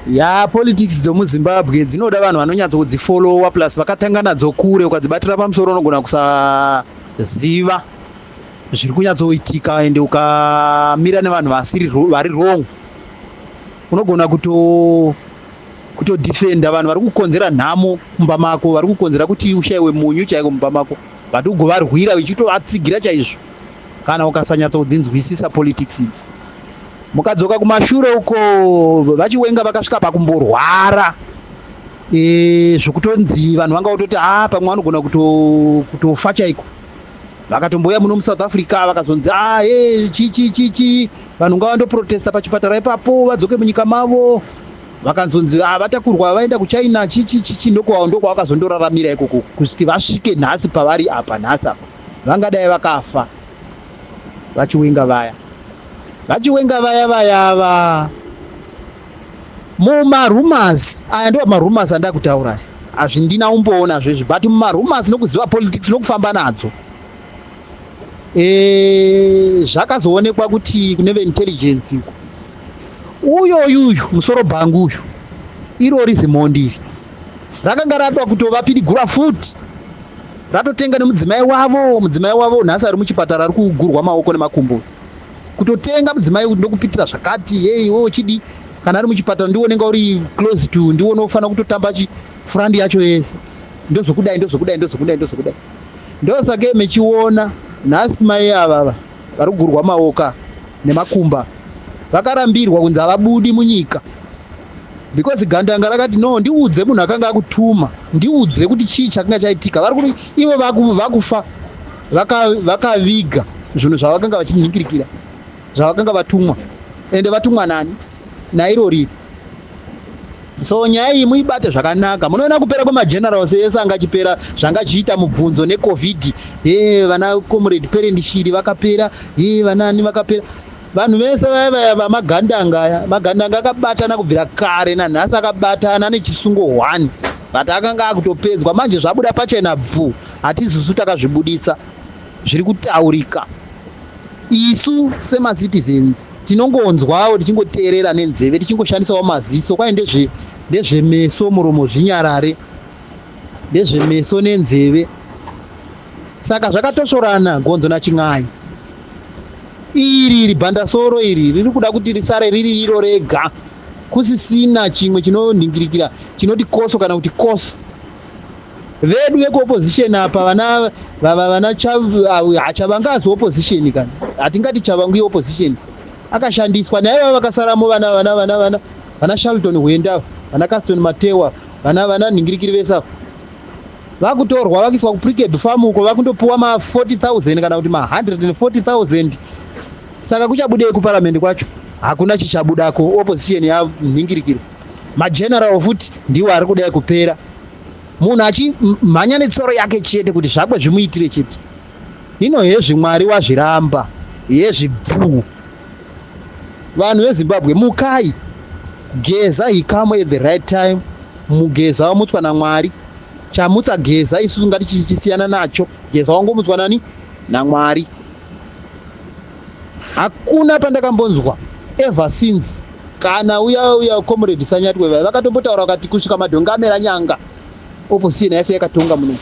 ya politics dzomuzimbabwe dzinoda vanhu vanonyatso kudzifolowa plus vakatanga nadzo kure ukadzibatira pamusoro unogona kusaziva zviri kunyatsoitika ende ukamira nevanhu vasiri vari wrong unogona kuto kutodefenda vanhu vari kukonzera nhamo mumba mako vari kukonzera kuti ushaiwe munyu chaiko mumba mako but ugovarwira uchitovatsigira chaizvo kana ukasanyatsoudzinzwisisa politics idzi mukadzoka kumashure uko vachiwenga vakasvika pakumborwara e, zvokutonzi vanhu vanga vototi a ah, pamwe vanogona kutofa chaiko vakatombouya muno musouth africa vakazonzi a e chichichichi vanhu ngavandoprotesta pachipatara ipapo vadzoke munyika mavo vakanzonzi ah, vatakurwa vaenda kuchina chichichichi ndokwavo ndokwavakazondoraramira ikoko kusvika vasvike nhasi pavari apa nhasi apa vangadai vakafa vachiwenga vaya vachiwenga vaya vaya va mumarumors aya ndo marumors andaa kutaura hazvindina umboona zvezvi but mumarumors nokuziva politics nokufamba nadzo Eh, zvakazoonekwa kuti kune veintelligence uko uyoyu uyu musoro bhangu uyu irori zimhondi iri rakanga ratwa kutovapirigura futi ratotenga nemudzimai wavo mudzimai wavo nhasi ari muchipatara ari kugurwa maoko nemakumbo kutotenga mudzimai ndokupitira zvakati hei wo chidi kana ari muchipatara ndiwo unenge uri close to ndiwo unofanira kutotamba chifurandi yacho yese ndozokudai ndozokudai ndozokudai ndozokudai ndosake mechiona nhasi mai avava vari kugurwa maoka nemakumba vakarambirwa kunzi havabudi munyika because gandanga rakati no ndiudze munhu akanga akutuma ndiudze kuti chii chakanga chaitika vari kuti ivo vakufa vakaviga zvinhu zvavakanga vachinhinkirikira zvavakanga vatumwa ende vatumwa nani nairori so nyaya iyi muibate zvakanaka munoona kupera kwemagenerals ese anga achipera zvanga zvichiita mubvunzo necovid e vana comrade parent shiri vakapera e vanani vakapera vanhu vese vaya vaya vamagandanga aya magandanga akabatana kubvira kare nanhasi akabatana nechisungo one but akanga akutopedzwa manje zvabuda pachena bvu hatizisu takazvibudisa zviri kutaurika isu semacitizens tinongonzwawo tichingoteerera nenzeve tichingoshandisawo maziso kwai ndezve ndezvemeso muromo zvinyarare ndezvemeso nenzeve saka zvakatosvorana gonzo nachin'ai iri iri bhandasoro iri riri kuda kuti risare riri iro rega kusisina chimwe chinonhingirikira chinoti koso kana kuti koso vedu vekuopposition apa vana vava vana hachavange asi opposition kana hatingati chavangu yeopposition akashandiswa naye vava vakasaramo vana vana vana vana vana shalton hwenda vana caston matewa vana vana nhingirikiri vese ava vakutorwa vakuiswa kupriked farm uko vakundopiwa ma 40000 kana kuti ma 140000 saka kuchabudei kuparamende kwacho hakuna chichabudako opposition yanhingirikiri mageneral futi ndiwo ari kudai kupera munhu achimhanya netsoro yake chete kuti zvakwe zvimuitire chete ino hezvi mwari wazviramba hezvi bvuu vanhu vezimbabwe mukai geza he come at the right time mugeza wamutswa namwari chamutsa geza isusu ngatichisiyana nacho geza wangomutswa nani namwari hakuna pandakambonzwa ever since kana uya uya comrade sanyatwe vaya vakatombotaura vakati kusvika madhonga amera nyanga opposition yaife yakatonga muno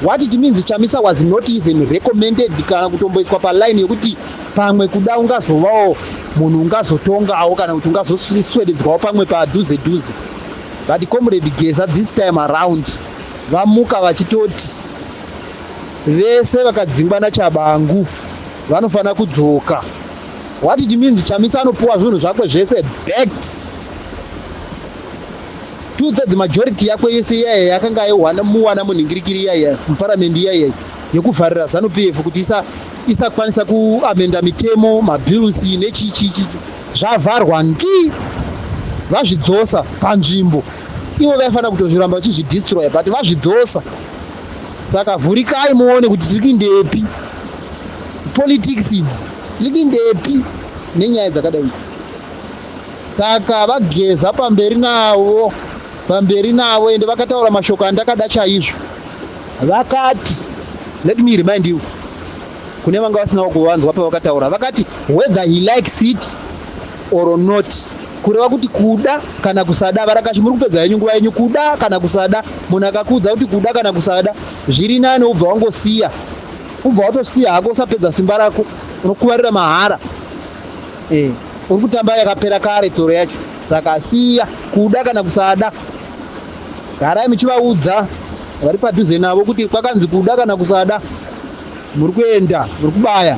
what it means chamisa was not even recommended kana kutomboiswa paline yekuti pamwe kuda ungazovawo munhu ungazotongawo kana kuti ungazoswededzwawo pamwe padhuze dhuze but comrade geza this time around vamuka vachitoti Vese vakadzingwa naChabangu vanofanira kudzoka. What it means Chamisa anopuwa zvinhu zvakwe zvese back. Two thirds majority yakwe yese iyaya yakanga muwana munhingirikiri iyaya muparamendi iyaya yekuvharira zanu PF kuti isa isakwanisa kuamenda mitemo mabills nechii chii chii zvavharwa ngi vazvidzosa panzvimbo ivo vaifanira kutozviramba vachizvidestroya but vazvidzosa saka vhurikai muone kuti tiri kuindepi politics idzi tiri kuindepi nenyaya dzakadai idzi saka vageza pamberi navo pamberi navo ende vakataura mashoko andakada chaizvo vakati let me remind you kune vanga vasinawo kuvanzwa pavakataura vakati whether he likes it or not kureva kuti kuda kana kusada varakashi muri kupedza yenyu nguva yenyu kuda kana kusada munhu akakuudza kuti kuda kana kusada zviri nani ubva wangosiya ubva watosiya hako usapedza simba rako unokuvarira mahara e, uri kutamba yakapera kare tsoro yacho saka siya kuda kana kusada garai muchivaudza vari padhuze navo kuti kwakanzi kuda kana kusada muri kuenda muri kubaya